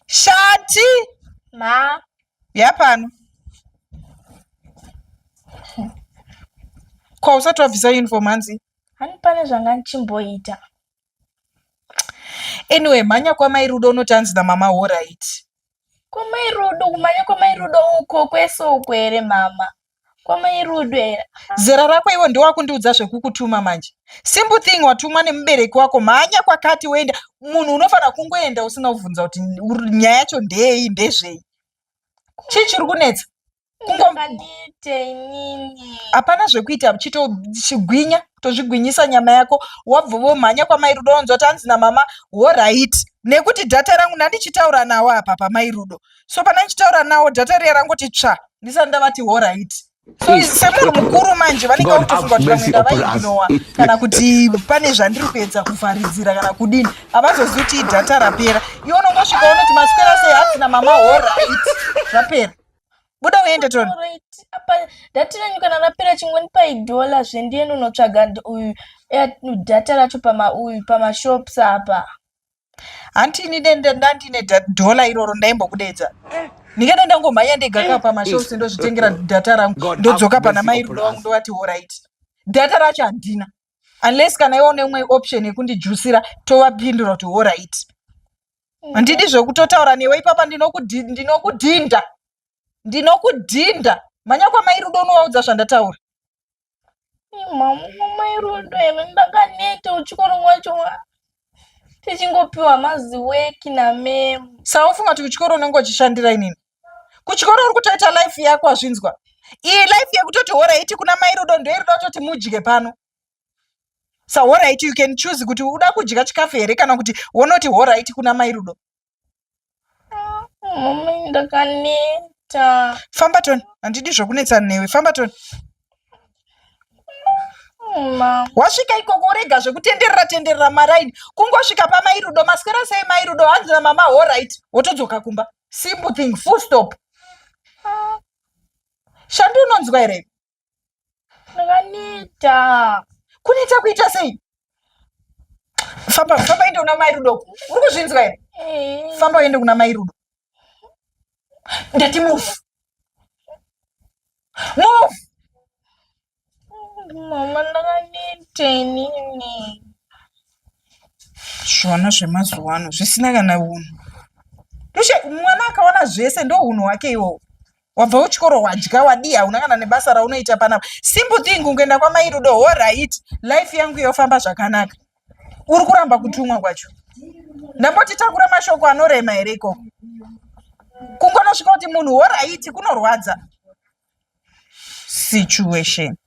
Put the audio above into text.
Shati. Ma. Yapano. Kwa usati wabvisa uniform hanzi? Hani pane zvanga ndichimboita. Anyway, mhanya kwamai Rudo unoti hanzi namama ho right. Kwamai Rudo, kumhanya kwamai Rudo uko kwese uko here mama? kwamai rudo era zera rako ivo ndiwakundiudza zvekukutuma manje simple thing watumwa nemubereki wako mhanya kwakati woenda munhu unofanira kungoenda usina kubvunza kuti ur- nyaya yacho ndeyei ndezvei chii chiri kunetsa Kungo- ndakadiite inini hapana zvekuita chitogwinya tozvigwinyisa nyama yako wabva womhanya kwamai rudo wonzwa kuti hanzi namama horaiti nekuti dhata rangu ndandichitaura nawo apa pamai rudo so pane ndichitaura nawo data riya rangoti tsva ndisati ndavati horit so semunhu mukuru manje vanenge vakutofunga kuti vamwe ndavaignowa kana kuti pane zvandiri kuedza kuvharidzira kana kudini havazozivi kuti idata rapera iwe unongosvika unoti maswera sei hatina mama horit zvapera buda uende tona data renyu kana rapera chingoni paidola zvendiende unotsvaga uyu data racho pama uyu pamashops apa hanti ini dende ndandine da- dollar iroro ndaimbokudeedza ndingada ndangomhanya ndega ka pamashows ndozvitengera data rangu God have ndodzoka pana mercy mai upon rudo wangu us. ndovati horait data racho handina unless kana iwo neumwe option yekundijusira tovapindura kuti horait handidi zvekutotaura newe ipapa ndinokudhi- ndinokudhinda ndinokudhinda mhanya kwamai rudo unovaudza zvandataura mairodo ere ndakaneta uchikoro wacho tichingopiwa maziweki namem saufunga kuti kuchikoro unenge uchishandira inini kuchikoro uri kutoita life yako azvinzwa iyi life yekutoti horaiti kuna mairodo ndoirida kutoti mudye pano sahoraiti you can choose kuti uda kudya chikafu here kana kuti wonoti horaiti kuna mairudo Mama ndakaneta. Famba Ton, handidi zvokunetsa newe. Famba Ton. Mama. Wasvika ikoko urega zvekutenderera tenderera maraini. Kungosvika pamai Rudo, maswera sei mai Rudo? Hanzi na mama all right. Wotodzoka kumba. Simple thing, full stop. Shandu unonzwa here? Ndakaneta. Kuneta kuita sei? Famba, famba ende una mai Rudo. Uri kuzvinzwa here? Eh. Famba uende kuna mai Rudo. Ndati move. Move. Mama ndakaneta inini. Zvona zvemazuva ano zvisina kana unhu. Tushe mwana akaona zvese ndohunhu hwake iwowo. wabva uchikoro wadya wadii hauna kana nebasa raunoita panapa simple thing ungoenda kwamai rudo ho right life yangu yofamba zvakanaka uri kuramba kutumwa kwacho ndamboti takura mashoko anorema here ikoko kungonosvika kuti munhu ho right kunorwadza situation